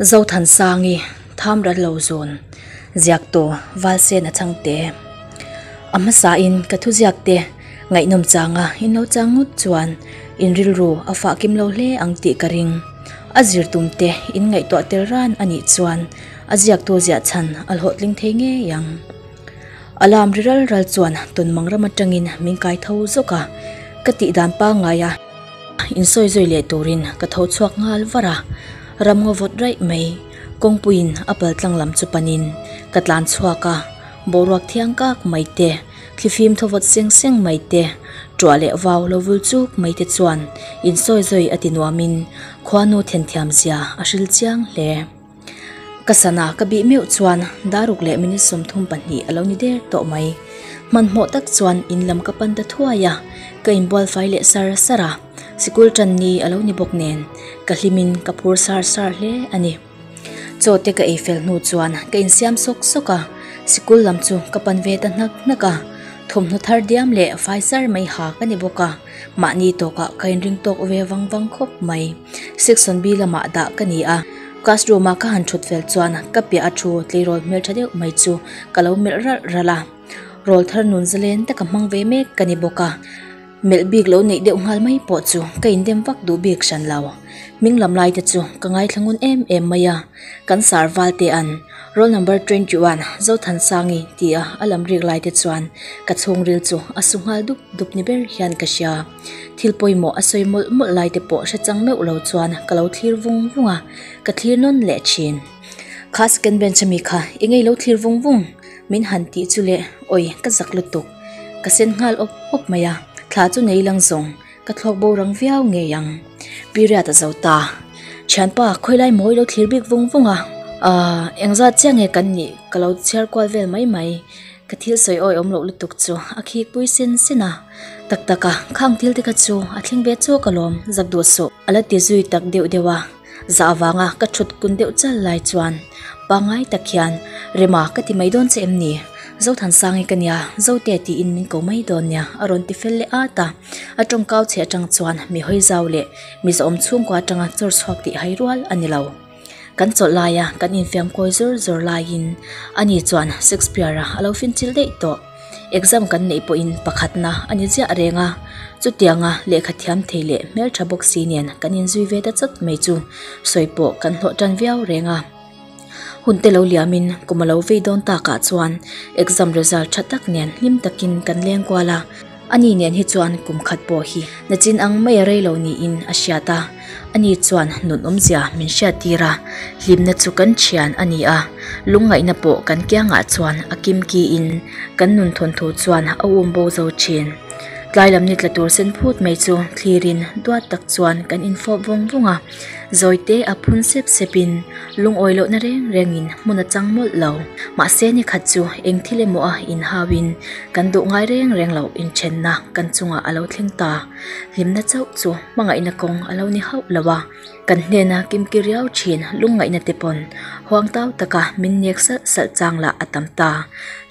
Zothansangi tham rat lo zawn ziak tawh Valsen a chang teh e. A hmasa in ka thu ziak te ngaihnawm changa in lo chang ngawt chuan in rilru a fah kim lo hle ang tih ka ring. A zir tum te in ngaihtuah tel ran anih chuan a ziak tu ziah chhan a hlawhtling thei ngei ang. Alarm ri ral ral chuan tawn mang ram atangin min kai tho zawk a, ka tih dan pangngai a insawi zawi leh turin ka tho chhuak nghal var a, ram ngaw vawt raih mai kawngpuiin a pal tlang lam chu panin ka tlan chhuak a, boruak thiang kak mai te, thlifim thaw vawt seng seng mai te, ṭuah leh vau lo vul chuk mai te chuan insawi zawi a ti nuamin khuanu then thiam zia a hril chiang hle. Ka sana ka bih meuh chuan Daruk leh Minute sawm thum pahnih a lo ni der tawh mai. Hmanhmawh tak chuan in lam ka pan ta thuai a, ka in bual fai leh sar sar a, sikul tan ni a lo ni bawk nen ka hlim in ka phur sar sar hle a ni. Chaw te ka ei fel hnu chuan ka in siam sawk sawk a, sikul lam chu ka pan ve ta hnak hnak a, thawmhnaw thar diam leh fai sar mai ha ka ni bawk a. Mahni tawkah ka inring tawk ve vang vang khawp mai. Sectionb lamah dah ka ni a, classroomah ka han thut fel chuan ka piah a thu tleirawl hmeltha deuh mai chu ka lo melh ralh ralh a. Rawl thar nun zalen te ka hmang ve mek ka ni bawk a, melh bik lo neih deuh nghal mai pawh chu ka indem vak duh bik hran lo. Hming lam lai te chu ka ngaithla ngun em em mai a. Kan sarval te an, Roll number twenty one, Zothansangi, ti a a lam riak lai te chuan ka chhungril chu a su nghal dup dup ni ber hian ka hria. Thil pawimawh a sawi mawlh mawlh lai te pawh hre chang meuh lo chuan ka lo thlir vung vung a, ka thlir nawn leh thin. Kha second bench a mi kha, Enge i lo thlir vung vung? Min han tih chu le, Awii, ka zak lutuk. Ka sen nghal awp awp mai a, thla chu nei lang zawng. Ka thlawk bo rang viau ngei ang. Period a zo ta. Thianpa, khawilai maw i lo thlir bik vung vung a. Aaa, engzat chiah nge kan nih? Ka lo chhiar kual vel mai mai. Ka thil sawi awi awm loh lutuk chu a khikpui sin sin a. Tak tak a, khang thil te kha chu a thleng ve chuak alawm, zak duh suh. A la ti zui tak deuh deuh a. Za avanga ka thut kun deuh chal lai chuan pa ngai tak hian, Rema ka ti mai dawn che em ni? Zothansangin ka nia, Zote tiin min ko mai dawn nia a rawn ti fel leh ata. A tawngkau che atang chuan mihawi zau leh miza awm chhungkua atanga chawr chhuak tih hai rual a ni lo. Kan chawlh laia kan infiamkawi zawr zawr laiin ani chuan Shakespeare-a a lo finchilh daih tawh. Exam kan neih pawhin pakhatna a ni chiah reng a, chutianga lehkha thiam thei leh hmeltha bawk si nen kan inzui ve ta chawt mai chu sawi pawh kan hlawh tan viau reng a. Hunte lo liamin kum a lo vei dawn takah chuan exam result tha tak nen hlim takin kan leng kual a, ani nen hi chuan kum khat pawh hi nachin ang mai a rei lo niin a hriat a. Ani chuan nun awmzia min hriat tir a, hlimna chu kan thian a ni a, lungngaihna pawh kan kiangah chuan a kim ki in kan nun thawn thu chuan a um bo zo thin. Tlai lam ni tla tur sen phut mai chu thlir in duat tak chuan kan in fawp vawng vawng a, zawite a phun sep sep in lungawi lohna reng reng in hmun a chang mawlh lo, mahse ni khat chu eng thil emaw a in hau in kan duh ngai reng reng lo in then na kan chungah a lo thleng ta. hlimna chauh chu hmangaihna kawng a lo ni hauh lo a kan hnena kimki riau thin lungngaihna te pawn huang tau taka min nek salh salh chang lah a tam ta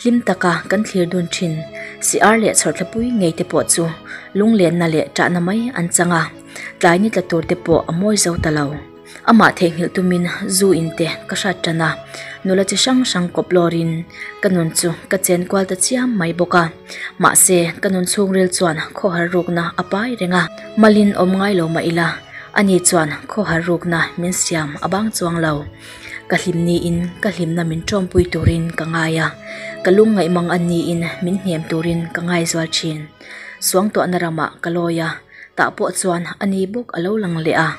hlim taka kan thlir dun thin siar leh chhawrhthla pui ngei te pawh chu lunglenna leh chahna mai an chang a tlai ni tla tur te pawh a mawi zo ta lo. Amah theihnghilh tumin zu in te ka hrat tan a, nula chi hrang hrang kawp lawrin ka nun chu ka chen kual ta chiam mai bawk a. Mahse, ka nun chhungril chuan khawhar rukna a pai reng a, Malin awm ngai lo mah ila, ani chuan khawhar rukna min siam a bang chuang lo. Ka hlim niin ka hlimna min ṭawmpui turin ka ngai a, ka lung ngaihmang an niin min hnem turin ka ngaizual ṭhin. Suangtuahna ramah ka lawi a. Tah pawh chuan a ni bawk a lo lang leh a,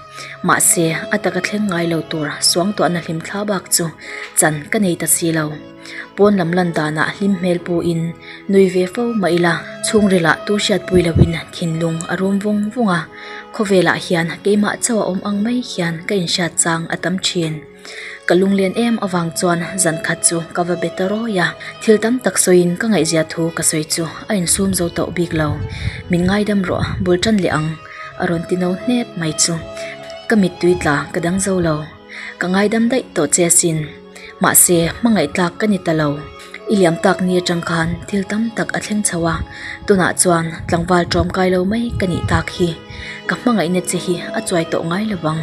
mahse a taka thleng ngai lo tur suangtuahna hlim thla bak chu chan ka nei ta si lo. Pawn lam lan danah hlim hmel pu in nui ve fo mah ila, chhungrilah tu hriat pui lo in thinlung a rum vung vung a, khawvelah hian keimah chauh a awm ang mai hian ka inhriat chang a tam thin. Ka lunglen em avang chuan zan khat chu ka va be ta rawi a, thil tam tak sawiin ka ngaihzia thu ka sawi chu a insum zo tawh bik lo. Min ngaidam rawh, bul tan leh ang, a rawn ti no hnep mai chu. Ka mittui tla ka dang zo lo, ka ngaidam daih tawh che asin, mahse hmangaihtlak ka ni ta lo. I liam tak nia chang khan thil tam tak a thleng chho a tunah chuan tlangval tawm kai lo mai ka nih tak hi ka hmangaihna che hi a chuai tawh ngai lovang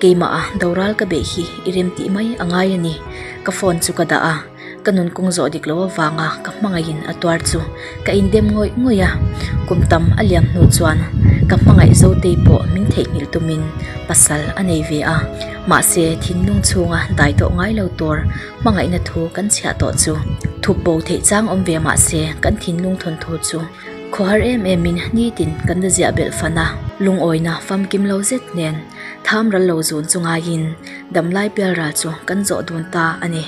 keimah a doral ka beh hi i rem tih mai a ngai a ni ka phone chu ka dah a ka nun kung zawh dik loh avanga ka hmangaih in a tuar chu ka in dem ngawih ngawih a kum tam a liam hnu chuan ka hmangaih zo te pawh min theihnghilh tumin pasal a nei ve a mahse thinlung chhunga dai tawh ngai lo tur-- Hmangaihna thu kan chhiah tawh chu thup bo theih chang awm ve mah se kan thinlung thawn tur chu khawhar em em in nitin kan la ziah belh fan a, lungawina famkim lo zet nen tham ral lo zun chu ngai in damlai pial ral chu kan zawh dun ta a ni.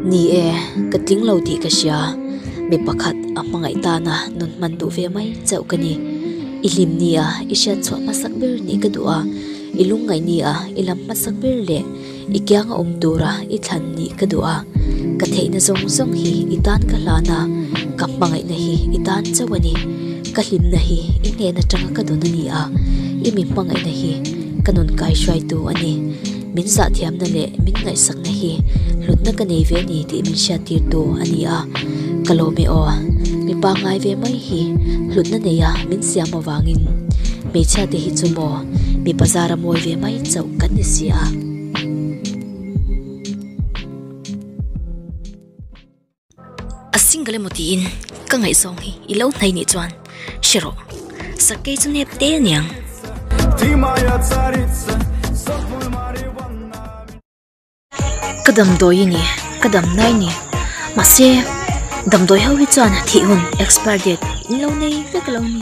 Ni e, ka tling lo tih ka hria. Mi pakhat a hmangaih tana nun hman duh ve mai chauh ka ni. I hlim ni a, i hriat chhuah hmasak ber nih ka duh a, i lungngaih ni a, i lam hmasak ber leh i kianga awm tura i thlan nih ka duh a. Ka theihna zawng zawng hi i tan ka hlan a, ka hmangaihna hi i tan chauh a ni. Ka hlimna hi i hnen atanga ka dawn a ni a, i mi hmangaihna hi ka nun kaihruaitu a ni. Min zahthiamna leh min ngaihsakna hi hlutna ka nei ve a ni tih min hriattirtu a ni a, ka lawm e aw. Mipa ngai ve mai hi hlutna neia min siam avangin hmeichhia te hi chu maw mipa zar a mawi ve mai chauh kan ni si a. A single emaw tiin ka ngaih zawng hi i lo hnaih nih chuan hre rawh. Sakei chu nep te a niang. Ka damdawi i ni, ka damna i ni. Mahse, damdawi ho hi chuan thih hun, expire date, in lo nei vek a lo ni.